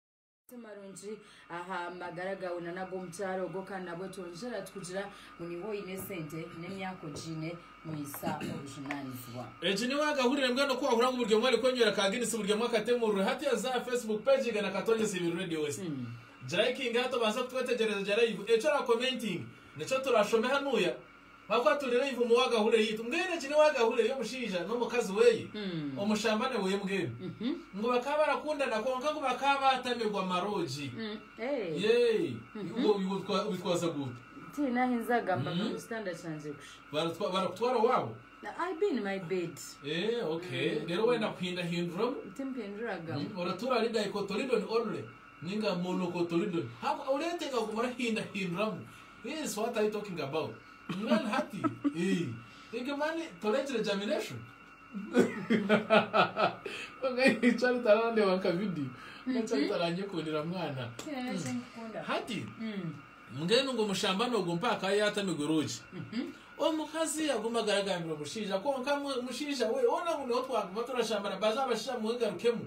Amazima marungi aha magara gaawe na n'ag'omu kyaro ogwo kandi nabwo twongyera tukugira ngu niiwe oine esente n'emyaka ogiine mwisa obujunanizibwa. Egi ni wagahurire mbwenu ku wahurira ngu buri omwe ari kwenywera ka Guinness buri omwe akatemurure hati oze aha Facebook page yiga na Katongyesa Ibiri Radio West girayikinge hati obanze kutwetegyereza gya live eki orakomentinge nikyo turashome hanuya Ahakuba atuurire iva omu wagahule yaitu, mbwenu egi ni wagahule y'omushaija n'omukazi weye, omushambane weye mbwenu. Ngu bakaba barakundana kwonka ngu bakaba baatamigwa maroogi. Yee. Iwe obitwaza guuta? Tihaine ahi nzaagambaga mu kitanda kyangye kusha. Baratwa, barakutwara owaabo? I be in my bed. Eeh okay. Reero wenda kuhindahinduramu? Timpinduragamu. Uhmm, oratuura ahari dicotoledon only ninga monocotoledon? Ahakuba oreetenga kuguma orahindahinduramu. Is what are you talking about? Mbwenu hati ii igi mani toregire germination? Konka ii Charity arandeeba nka video. Konka Charity aranyekundira mwana. Hati mbwenu ngu omushambani ogwo mpaka akaba yatamigwe roogi. Omukazi yagumaga aragambira omushaija konka mu- omushaija we, ona ngu niho twaguma turashambana baze abashaija mwegarukemu.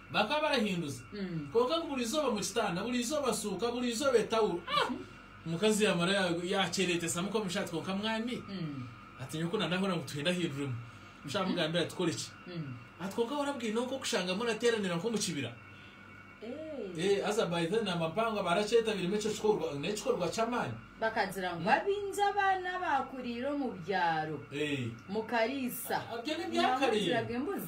Bakaba barahinduza kwonka ngu buri izooba omu kitanda, buri izooba suuka, buri izooba etawuro. Ah! Omukazi yaamara yaakyereetesamu nk'omu isho ati, Kwonka mwami, ati nyowe ku na ndahurira ngu tuhinde ahinduremu. Busha yamugambira ati, Kore ki? Ati, Kwonka wahurira bwine omu k'okushanga murateeranira nk'omu kibira. Eeh! Haza by then amampangwa baarakyetabiiremu ekyo kikorwa. N'ekikorwa ky'amaani. Bakagira ngu abaingi abaana abaakuriire omu byaro mu Kariisa nibamwigiraga embuzi.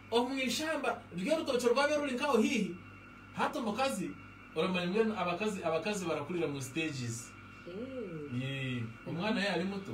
Omu ishamba ry'orutookye orwabire ruri nkaho haihi hati omukazi oramanya mbwenu abakazi abakazi barakurira mu stages yee omwana yaaba ari muto